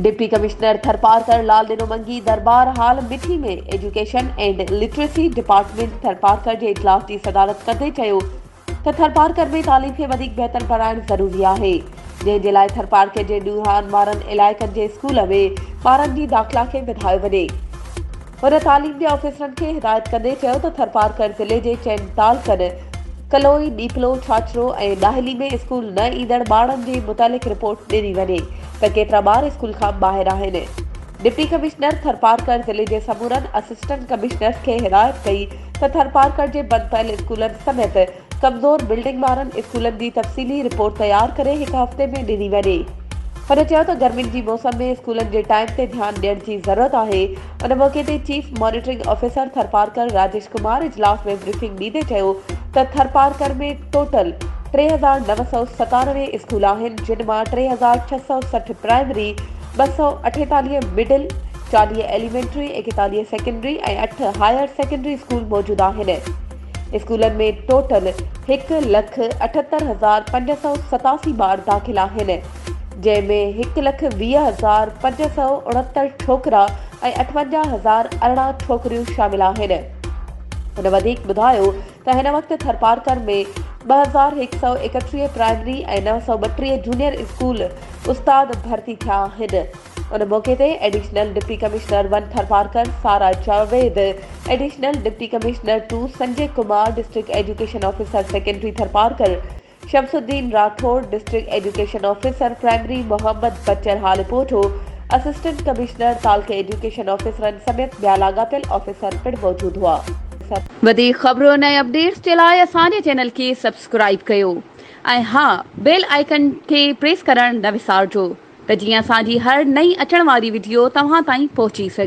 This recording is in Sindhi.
ڊپٽي ڪمشنر ٿرپارڪر لال ڏنو منگي دربار hall Mithi ۾ education and literacy department Tharparkar جي اجلاس جي صدارت ڪندي چيو ته ٿرپارڪر ۾ تعليم کي وڌيڪ بهتر بڻائڻ ضروري آهي، جنهن جي لاء ٿرپارڪر جي ڏوهارن وارن علائقن جي اسڪول ۾ ٻارن جي داخلا کي وڌايو وڃي. هن تعليم جي آفيسرن کي هدايت ڪندي چيو ته ٿرپارڪر ضلعي جي چئن تعلقن ڪلوئي، ڏيپلو، ڇاڇرو ۽ ڏاهلي ۾ اسڪول نه ايندڙ ٻارڙن جي متعلق رپورٽ ڏني وڃي ته ڪيترا ٻار اسڪول کان ٻاهر آهن. ڊپٽي ڪمشنر ٿرپارڪر ضلعي جي سمورن اسسٽنٽ ڪمشنرز کي هدايت ڪئي ته ٿرپارڪر جي بند پيل اسڪولن سميت ڪمزور بلڊنگ وارن اسڪولن جي تفصيلي رپورٽ تيار ڪري هڪ هفتي ۾ ڏني وڃي. هن چيو ته گرمين جي موسم ۾ اسڪولن جي ٽائيم تي ڌيان ڏيڻ جي ضرورت آهي. ان موقعي تي chief monitoring officer Tharparkar Rajesh Kumar اجلاس ۾ بريفنگ ڏيندي چيو ته ٿرپارڪر ۾ ٽوٽل ٽي هزار نو سؤ ستانوي اسڪول آهن جن مان ٽي هزار ڇهه سؤ سٺ پرائمري ٻه سؤ اٺيتاليهه مڊل، چاليهه ايليمينٽري، ايڪيتاليهه سيڪنڊري ۽ اٺ هائير سيڪنڊري اسڪول موجود آهن. اسڪولن ۾ ٽوٽل هڪ لک اٺهتر هزار پنج سؤ ستاسي ٻار داخل آهن، جنهن ۾ هڪ لک ويهه هزار پنج سؤ اڻهتر ڇوڪرا ۽ اٺونجاهه هزار ارڙهن ڇوڪريون شامل آهن. هن وڌيڪ ٻڌايو ته هن وقت ٿرپارڪر ۾ ٻه هزار هڪ سؤ ايڪٽيهه پرائمري ۽ نو سؤ ٻٽيهه جونيئر اسڪول استاد ڀرتي ٿيا آهن. ان موقعي تي additional deputy commissioner one Tharparkar Sara Javed, additional deputy commissioner two Sanjay Kumar, district education officer secondary Tharparkar, Shamsuddin Rathore, district education officer primary Muhammad Bachar Haliputo, assistant commissioner, تعلقي ايڊيوڪيشن آفيسرن سميت ٻيا لاڳاپيل آفيسر پڻ موجود هئا. وڌيڪ خبرن ۽ اپڊيٽس جي لاء اسان جي چينل کي سبسڪرائيب ڪيو ۽ ها بيل آئيڪن کي پريس ڪرڻ نه وسارجو ته جيئن اسان جي هر نئين اچڻ واري وڊيو توهان تائين پهچي سگهي.